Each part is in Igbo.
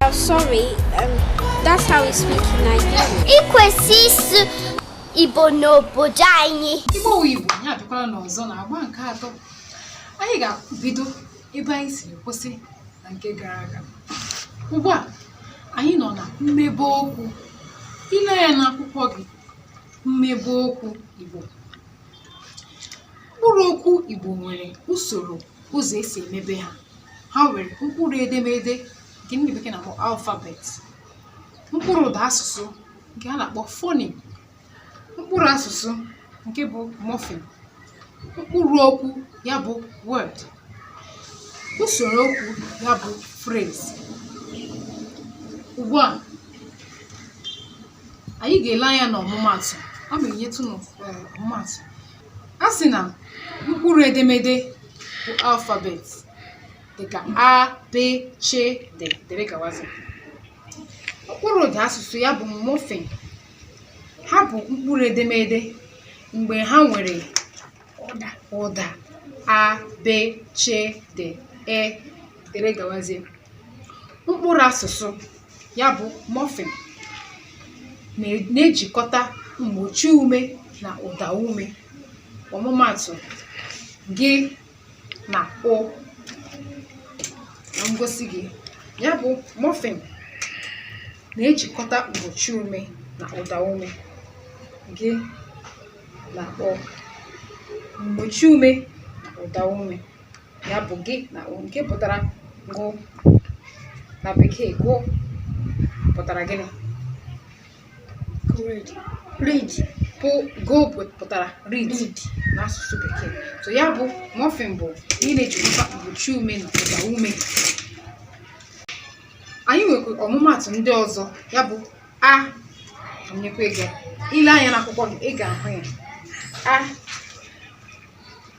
Well, sorry, um, that's how we speak in Nigeria. I kwesị ịsụ Igbo n'obodo anyị. Igbo wụ Igbo, ya dịkwara n'ọzọ na agba nke atọ. Anyị ga-ebido ebe anyị si kwụsị na nke gara aga. Ugbu a, anyị nọ na mmebe okwu. I lee ya n'akwụkwọ gị, mmebe okwu Igbo. Mkpụrụ okwu Igbo nwere usoro ụzọ e si emebe ha. ha nwere mkpụrụ edemede nke ndị bekee na-akpọ alphabet mkpụrụ ụda asụsụ nke a na-akpọ fonim mkpụrụ asụsụ nke bụ mọfim mkpụrụ okwu ya bụ word usoro okwu ya bụ phrase ugbu a anyị ga-ele anya n'ọmụmatụ aga m enyetụ ọmụmatụ A sị na mkpụrụ edemede bụ alphabet dịka a, b, ch, d dịrị gawazi. Mkpụrụ ụda asụsụ ya bụ mọfịm. Ha bụ mkpụrụ edemede mgbe ha nwere ụda ụda a, b, ch, d, e dịrị gawazie. Mkpụrụ asụsụ ya bụ mọfịn na-ejikọta mgbochi ume na ụda ume ọmụmatụ g na ụ na-egosi gụ ya bụ mọfịn na-ejikọta mgbochi ume na ụda ume g na ụ mgbochi ume na ụda ume ya bụ g na ụ nke pụtara gụ na bekee gụ pụtara gịnị read read bụ gụ pụtara read n'asụsụ bekee so ya bụ mọfịn bụ ị na-ejikọta mgbochi ume na ụda ume anyị nwekwara ọmụmatụ ndị ọzọ ya bụ a nyekwa ego i lee anya n'akwụkwọ gị ị ga-ahụ ya a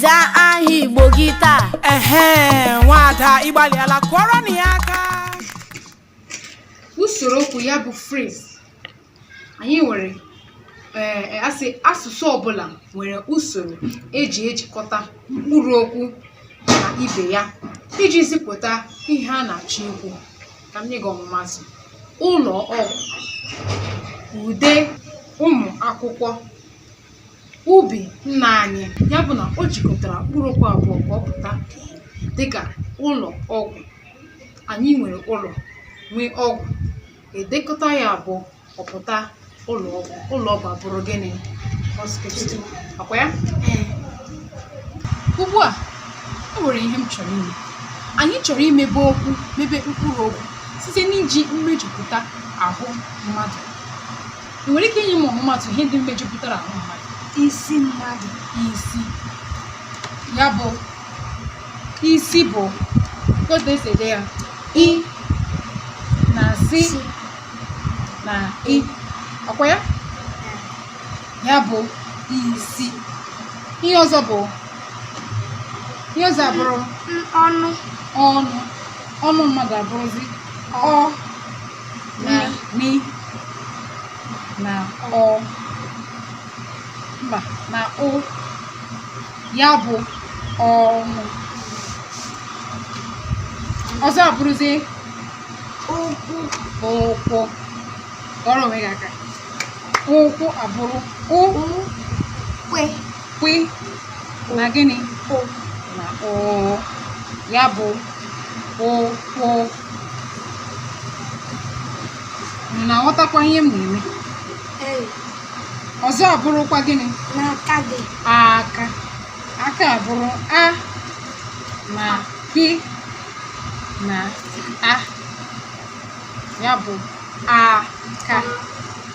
zaa aha igbo gị taa ehe nwada ị gbalịala kụọrọnụ ya aka usoro okwu ya bụ phrase anyị nwere ee e, a sị asụsụ ọbụla nwere usoro e ji ejikọta mkpụrụ okwu na ibe ya iji zipụta ihe a na-achọ ikwu ka m nye gị ọmụmatụ ụlọ ọgwụ ude ụmụ akwụkwọ ubi nna anyị ya bụ na o jikọtara mkpụrụ okwu abụọ ka ọ pụta dịka ụlọ ọgwụ anyị nwere ụlọ nwee ọgwụ e dekọta ya abụọ ọ pụta ụlọ ọgwụ ụlọ ọgwụ abụrụ gịnị hospital ọkwa ya ugbu a e nwere ihe m chọrọ ime anyị chọrọ imebe okwu mebe mkpụrụ okwu site n'iji mmejupụta ahụ mmadụ ị nwere ike inye m ọmụmatụ ihe ndị mejupụtara ahụ mmadụ isi mmadụ isi ya bụ isi bụ otu e si ede ya i na si si na i ọkwa ya ya bụ isi ihe ọzọ bụ ihe ọzọ abụrụ m ọnụ ọnụ ọnụ mmadụ abụrụzi ọ na ni na ọ mba na ụ ya bụ ọnụ ọzọ abụrụzie ụkwụ ụkwụ ọrụ onwe gị aka ụkwụ abụrụ ụ kwi kwi na gịnị ụ na ụ ya bụ ụkwụ unu na-aghọtakwa ihe m na-eme Ee, ọzọ abụrụkwa gịnị aka gị. aka aka abụrụ a na ki na a ya bụ aka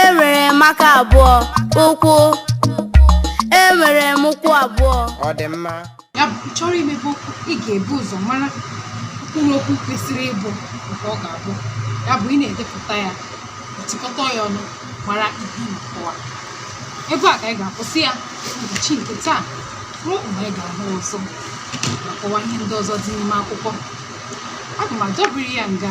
enwere m aka abụọ ụkwụ enwere m ụkwụ abụọ ọ dị mma ya bụ ị chọrọ imebe okwu ị ga-ebu ụzọ mara mkpụrụ okwu kwesịrị ịbụ nke ọ ga-abụ ya bụ ị na-edepụta ya chịkọta ya ọnụ mara ihe ị na-akọwa ebe a ka anyị ga-akwụsị ya ụbọchị nke taa ruo mgbe anyị ga-ahụ ọzọ ma kọwa ihe ndị ọzọ dị n'ime akwụkwọ aga m adọbiri ya nga